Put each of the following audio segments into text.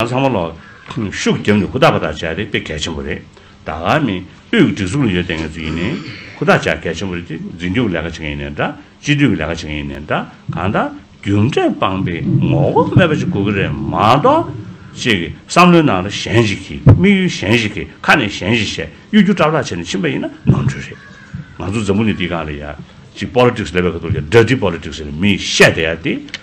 ང་ཚང་མ་ལོག། ཤུགས་རྒྱབ་ནས་ཧུར་ཐག་པ་ཐག་བཅག་རེད་དཔེ་གལ་ཆེན་པོ་རེད། ད་ག་མིན། དབུས་ཀྱི་སྒྲིག་འཛུགས་ལ་ཡོད་བསྡད་ངེས་ཚུལ་ཡིན། ཧུར་ཐག་བཅག་གལ་ཆེན་པོ་རེད་དེ་འཛིན་སྐྱོང་གི་ལས་ཀ་བྱེད་མཁན་ཡིན་ནའི་འདྲ། སྤྱི་འཐུས་ཀྱི་ལས་ཀ་བྱེད་མཁན་ཡིན་ནའི་འདྲ། གང་ལྟར། རྒྱུ་འབྲས་སྤངས་པའི་ངོ་བོ་སྨྲས་པ་ཞིག་དགོས་ཀྱི་རེད་མ་གཏོགས། ཅེས་ཀྱི་བསམ་བློའི་ནང་ལ་གཞན་ཞིག་གིས་དམིགས་ཡུལ་གཞན་ཞིག་གིས་ཁ་ནས་གཞན་ཞིག་བཤད་གཡོ་སྒྱུ་སྐྲག་སྐྲག་བྱས་ནས་ཕྱིན་པ་ཡིན་ན་ནོར་འཁྲུལ་རེད། ང་ཚོ་འཛམ་བུ་ནས་འདི་གང་ལ་ཡ། ཅིག Politics ལས་པའི་ཁ་ཐུག་ཡ། Dirty Politics ཟེར་ནས་མིས་བཤད་བསྡད་ཡ་དེ།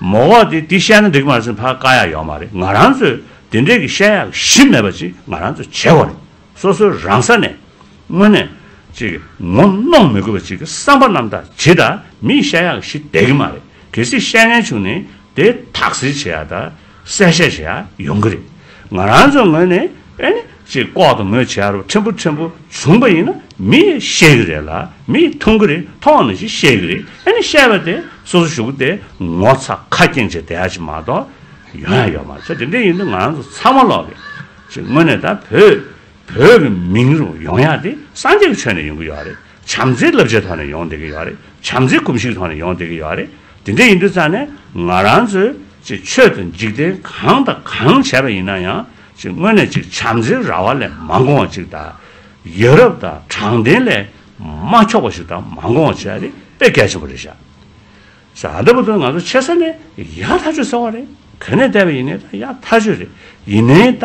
མོ་ཁོག་དེ་དེ་བཤད་ན་འགྲིག་མ་ཟིན་ཕར་དཀའ་ཡག་ཡོག་མ་རེད་ང་རང་ཚོས་དེ་འདྲས་ཀྱི་བཤད་ཡག་གཞི་མེད་པ་ཅིག་ང་རང་ཚོས་བྱེད་དགོས་རེད་སོ་སོའི་རང་ས་ནས་དངོས་གནས་ཅིག་ངོ་གནོང་མི་དགོས་པ་ཅིག་གི་བསམ་པ་རྣམ་དག་ཇི་ལྟར་མིས་བཤད་ཡག་གཞི་བསྡད་ཀྱི་མ་རེད་གལ་སྲིད་བཤད་ཉན་བྱུང་ནས་དེ་དག་ཟིལ་བྱེད་ཡག་དག། གསལ་བཤད་བྱེད་ཡ་ཡོང་གི་རེད། ང་རང་ཚོའི་ངོས་ནས་ཨེ་ནི་ཅེས་ལྐོག་ཏུ་མོས་བྱེད་ཡར་ཕྲན་བུ་ཕྲན་བུ་བྱུང་པ་ཡིན་ན་མི་ཡིས་ཤེས་གི་རེད་ལ་མི་ཡིས་མཐོང་གི་རེད་མཐོང་བ་ནི་ཞིག་ཤེས་གི་རེད་ཨེ་ནི་བཤད་པ་དེ་སོ་སོ་ཞུགས་ཏེ་ངོ་ཚ་ཁ་སྐྱེངས་བྱེད་བསྡད་ཡ་ཞིག་མ་གཏོགས་ཡོང་ཡ་ཡོད་མ་རེད་ཚེ་དེ་འདྲས་ཡིན་དུས་ང་རང་ཚོ་ཚང་མ་ལོག་གི་ཞིག་དངོས་གནས་ད་བོད་བོད་ཀྱི་མིང་རུ་ཡོང་ཡ་དེ་སངས་རྒྱས་ཀྱི་ཆོས་ནས་ཡོང་གི་ཡོད་རེད། བྱམས་བརྩེའི་བསླབ་བྱའི་ཐོག་ནས་ཡོང་བསྡད་ཀྱི་ཡོད་རེད། བྱམས་བརྩེའི་གོམས་གཤིས་ཐོག་ནས་ཡོང་བསྡད་ཀྱི་ཡོད་རེད། དེ་འདྲ་ཡིན་དུས་ཙང་ནས་ང་རང་ཚོས་ཅིག་ཆོས་དང་འཇིག་རྟེན་གང་དང་གང་བྱས་པ་ཡིན་ན་ཡང་ཅིག་དངོས་གནས་ཅིག་བྱམས་བརྩེའི་ར་བ་ལས་མ་འགོང་བ་ཅིག་དང། ཡོད་རབས་དང་དྲང་བདེན་ལས་མ་འཁྱོག་པ་ཞིག་དང་མ་འགོང་བ་བྱས་རེད་དཔེ་གལ་ཆེན་པོ་རེད་ཤག་ཟེར། ཨ་ད་པོ་ཏོ་ང་ཚོ་ཆེ་ས་ནས་ཡ་ཐག་ཆོད་ཟེར་བ་རེད་གན་ནས་བསྡད་པ་ཡིན་ནའི་ད་ཡ་ཐག་ཆོད་རེད་ཡིན་ནའི་ད།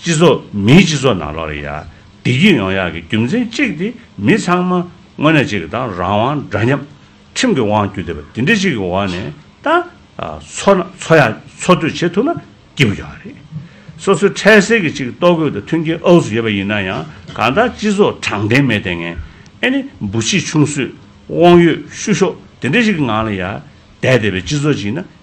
སྤྱི་ཚོགས་མིའི་སྤྱི་ཚོགས་ནང་ལོགས་རེ་ཡ་བདེ་སྐྱིད་ཡོང་ཡག་གི་རྒྱུ་མཚན་གཅིག་དེ་མི་ཚང་མ་དངོས་གནས་གཅིག་གི་དང་རང་དབང་འདྲ་མཉམ། ཁྲིམས་ཀྱི་དབང་བསྒྱུར་བདེ་བ་དེ་འདྲ་ཞིག་གི་འོག་ནས་དང། འཚོ་ན་འཚོ་ཡག་འཚོ་སྡོད་བྱེད་ཐུབ་ན་སྐྱིད་པོ་ཡོང་ཡག་རེད། སོ་སོའི་འཕྲལ་སེལ་གྱི་ཅིག་ལྟོ་གོས་དང་མཐུན་རྐྱེན་ཨོག་སུ་ཡོད་པ་ཡིན་ན་ཡང་གང་ལྟར་སྤྱི་ཚོགས་དྲང་བདེན་མེད་ལྟས་ངན། ཨེ་ནི་འབུ་ཕྱི་ཆུང་སུས་དབང་ཡོད་ཤུ་ཤོག་དེ་འདྲ་ཞིག་གི་ངང་ལ་ཡ་བདེ་བདེ་བའི་སྤྱི་ཚོགས་ཅིག་ན་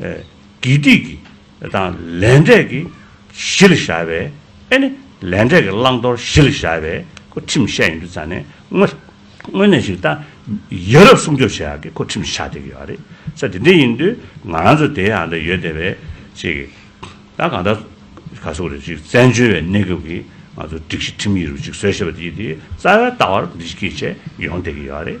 དགེ་སྡིག་གི་དང་ལས་འབྲས་ཀྱི་གཞི་ལ་བཞག་པའི་ཨེ་ནི་ལས་འབྲས་ཀྱི་བླང་དོར་གཞི་ལ་བཞག་པའི་སྐུ་ཁྲིམས་བཤད་ཡོད་འདུག་ཙང་ནས་དངོས་གནས་ཞིག་ད་ཡ་རབས་སྲུང་སྐྱོབ་བྱེད་ཡག་གི་སྐུ་ཁྲིམས་ཆགས་བསྡད་ཀྱི་ཡོད་རེད་ས་དེ་འདྲས་ཡིན་དུས་ང་རང་ཚོ་དེ་ཡང་ད་ཡོད་བསྡད་པའི་ཆེད་ཀྱི་ད་གང་ལྟར་ག་གཟུགས་རེད་ཅིག་བཙན་བྱོལ་བའི་གནས་སྐབས་ཀྱི་ང་ཚོ་སྒྲིག་གཞི་ཁྲིམས་ཡིག་རུ་ཅིག་བཟོས་ཤེས་པ་དེ་ཡིན་དུས་རྩ་བའི་ལྟ་བར་འདི་ཅིག་གིས་ཆེད་ཡོང་བསྡད་ཀྱི་ཡོད་རེད།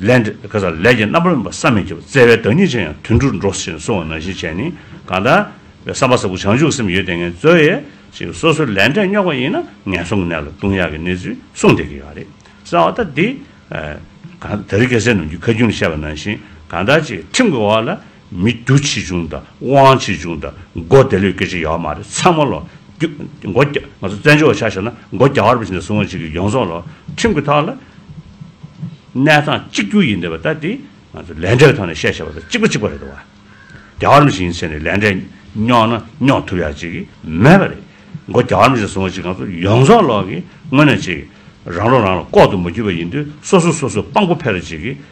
ལས། ཀ་ཚ་ལས་ཀྱི་རྣམ་པར་སྨིན་པ་བསམ་མི་ཁྱབ་བརྩེ་བའི་བདག་ཉིད་ཅན་ཡང་དུད་འགྲོར་འགྲོ་བཞིན་སོང་བ་ན་གཞི་བྱས་ནི་གང་དག། བསམ་པ་ཟབ་པོ་བྱང་ཆུབ་སེམས་ཡོད་དེ་ངལ་རྩོལ་ཡས་ཤིག་སོ་སོའི་ལས་འབྲས་རྙོག་པ་ཡིན་ན་ངན་སོང་གི་གནས་ལ་ལྟུང་ཡག་གི་གནས་ཚུལ་གསུངས་བསྡད་ཀྱི་ཡོད་རེད་བསམ་བ་ད་འདི། གང་ད་རི་སྐྱེས་སྲས་ནོར་གྱི་ཁ་རྒྱུན་བཤད་པ་ནང་བཞིན་གང་དག་ཅིག་ཁྲིམས་ཀྱི་འོག་ལ། མི་རྒྱུ་ཆེ་ཆུང་དང་དབང་ཆེ་ཆུང་དང་སྒོ་བདེ་ལོད་སྐད་ཅིག་ཡོད་མ་རེད་ཚང་མ་ལོ་རྒྱུ། སྒོ་རྒྱ། ང་ཚོ་བཙན་བྱོལ་བ་ཆགས་ཞེ་ན་སྒོ་རྒྱ་བར་པ་ཞིག་ནས་བཟུང་བ་ཞིག་གིས་ཡོངས་རྫོགས་ལོ་ཁྲིམས་ཀྱི་ཐོག་ལ་གནས་སྟངས་གཅིག་གྱུར་ཡིན་དེ་བ་ད་དེ་ང་ཚོ་ལས་འབྲས་ཀྱི་ཐོག་ནས་བཤད་ཞེས་པ་དང་གཅིག་པ་གཅིག་པ་རེད་དེ་བ། རྒྱ་བར་པ་ཞིག་ཡིན་ཚེ་ནས་ལས་འབྲས་རྙོག་ན་རྙོག་ཐུབ་ཡག་ཅིག་མེད་པ་རེད། སྒོ་རྒྱ་བར་པ་ཞིག་ནས་བཟུང་བ་ཞིག་ང་ཚོ་ཡོངས་རྫོགས་ལོག་གིས་དངོས་གནས་ཅིག་རང་བློ་རང་ལ་ལྐོག་ཏུ་མ་གྱུར་པ་ཡིན་དུས་སོ་སོ་སོ་སོ་དཔང་པོ་ཕེ་ར་ཅིག་གིས་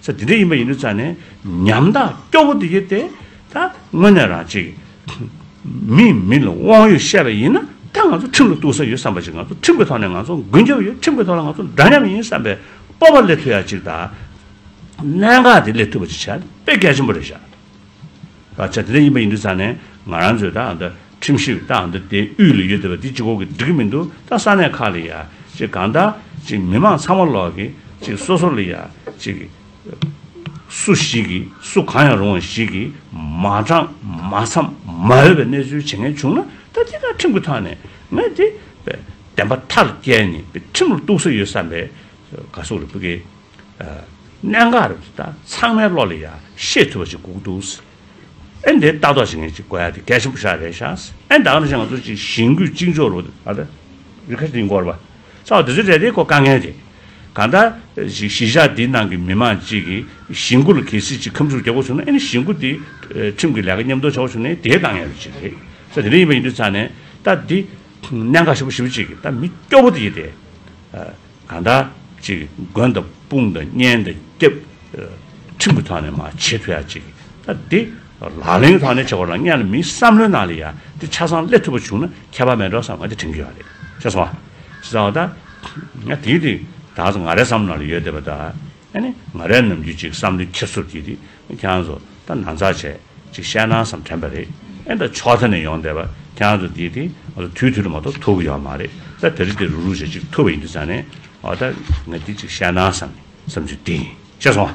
ས་དེ་འདྲ་ཡིན་པ་ཡིན་དུས་ཚར་ནས་ཉམ་ཐག་སྐྱོ་བོ་དེ་ཡོད་དེ། ད་དངོས་གནས་རང་ཅིག་མིས་མི་ལ་དབང་ཡོད་བཤད་པ་ཡིན་ན་ད་ང་ཚོ་ཁྲིམས་ལ་གཏུགས་ས་ཡོད་བསམ་པ་ཅིག་ང་ཚོ་ཁྲིམས་ཀྱི་ཐོག་ནས་ང་ཚོ་མགོན་སྐྱབས་ཡོད་ཁྲིམས་ཀྱི་ཐོག་ལ་ང་ཚོ་འདྲ་མཉམ་ཡིན་བསམ་པའི་སྤོབས་པ་སླེབས་ཐུབ་ཡག་ཅིག་ད་གནད་འགག་དེ་སླེབས་ཐུབ་པ་ཅིག་བྱས་ན་དཔེ་གལ་ཆེན་པོ་རེད་བཞག། ད་ཆ་དེ་འདྲ་ཡིན་པ་ཡིན་འདུག་ས་ནས་ང་རང་ཚོས་ད་འདི་ཁྲིམས་ཞིབ་ད་འདི་དེ་དབུས་ལ་ཡོད་དེ་བ་དེ་ཅི་གོ་གི་འགྲིག་གི་མི་འདུག་ད་ས་གནས་ཁག་ལ་ཡ་གཅིག་གང་ད་གཅིག་མི་མང་ཚང་མ་ལོག་གི་གཅིག་སོ་སོ་ལ་ཡ་གཅིག་སུ་ཞིག་གི་སུ་གང་ཡང་རུང་བ་ཞིག་གི་མ་དྲང་མ་འཚམ་མ་འོས་པའི་གནས་ཚུལ་བྱེད་མཁན་བྱུང་ན་ད་དེ་དག་ཁྲིམས་ཀྱི་ཐག་ནས་ངས་དེ་བདེན་པ་མཐར་བསྐྱལ་ནས་ཁྲིམས་ལ་གཏུགས་ས་ཡོད་བསམ་པའི་དགའ་སུག་རེ་སྤུ་གི། གནད་འགག་རེད་འདུག་ད་ཚང་མའི་བློ་ལ་ཡང་ཤེས་ཐུབ་པ་ཞིག་སྒུག་འདུག་ཨེ་འདི་ལྟ་རྟོག་བྱེད་མཁན་ཅིག་དགོས་ཡ་དེ་གལ་ཆེན་པོ་ཞིག་རེད་ཤག་ཨེ་འདའ་ང་ཚོ་ཅིག་གཞེན་སྐུལ་གཅིག་འཇོག་རོགས་ཨ་ད་རི་ཁ་ཅིག་འགོར་བ་ཚོགས་འདི་ཚོས་རེད་དེ་ཁོ་དཀའ་ངལ་རེད་གང་ལྟར་ཞིག་གཞིས་ཆགས་འདིའི་ནང་གི་མི་མང་ཅིག་གིས་གཞེན་སྐུལ་ལ་གལ་སྲིད་ཅིག་ཁམས་ཕྱུག་རྒྱག་དགོས་བྱུང་ན་ཨེ་ནི་གཞེན་སྐུལ་འདི་ཁྲིམས་ཀྱི་ལས་ཀ་མཉམ་འདོགས་བྱ་དགོས་བྱུང་ནའི་དེའི་དཀའ་ངལ་ཅིག་རེད་ས་དེ་འདྲ་ཡིན་པ་ཡིན་དུས་ཚང་ནས་ད་འདི་གནད་འགག་ཞིབ་པོ་ཞིབ་པོ་ཅིག་གིས་ད་མི་སྐྱོ་བོ་དེ་ཡིན་ཏེ། གང་དག་ཅིག་མགོན་དང་དཔུང་དང་གཉེན་དང་སྐྱབས། ཁྲིམས་ཀྱི་ཐོག་ནས་མ་བྱས་ཐུ་ཡག་ཅིག། འདི་ལག་ལེན་གྱི་ཐོག་ནས་བྱེད་དགོས་ལ་གཉན་ལ་མིའི་བསམ་བློའི་ནང་ལ་ཡ་འདི་ཆ་ཚང་སླེབས་ཐུབ་པ་བྱུང་ན་ཁྱད་པར་མེད་འགྲོ་བསམ་ང་འདི་དྲན་གྱི་ཡོད་རེད་ཤེས་སོང་ང། ཞེས་བསམ་བ་དང། ང་དེའི་དུས་ད་གཟོད་ང་རའི་བསམ་བློ་ནང་ལ་ཡོད་བསྡད་པ་དང། ཨ་ནི་ང་རས་ནམ་རྒྱུན་ཅིག་བསམ་བློའི་ཁེར་ཚུར་གྱིས་ཏེ་ཁྱེད་རང་ཚོ་ད་ན་ཚ་བྱས་ཅིག་བཤད་སྣང་བསམ་དྲན་པ་རེད་ཨེ་ད་ཕྱོགས་མཐའ་ནས་ཡོང་བསྡད་པ་ཁྱེད་རང་ཚོ་འདིས་ཏེ་ང་ཚོ་དུས་དུས་ལ་མ་གཏོགས་ཐུག་གི་ཡོད་མ་རེད་ད་དེ་རེ་དེ་རུག་རུག་བྱས་ཅིག་ཐུབ་པ་ཡིན་དུས་ཙང་ནས་ཨོ་ད་ང་འདི་ཅིག་བཤད་སྣང་བསམ་བསམ་ཚུལ་འདི་ཡིན་ཤེས་སོང།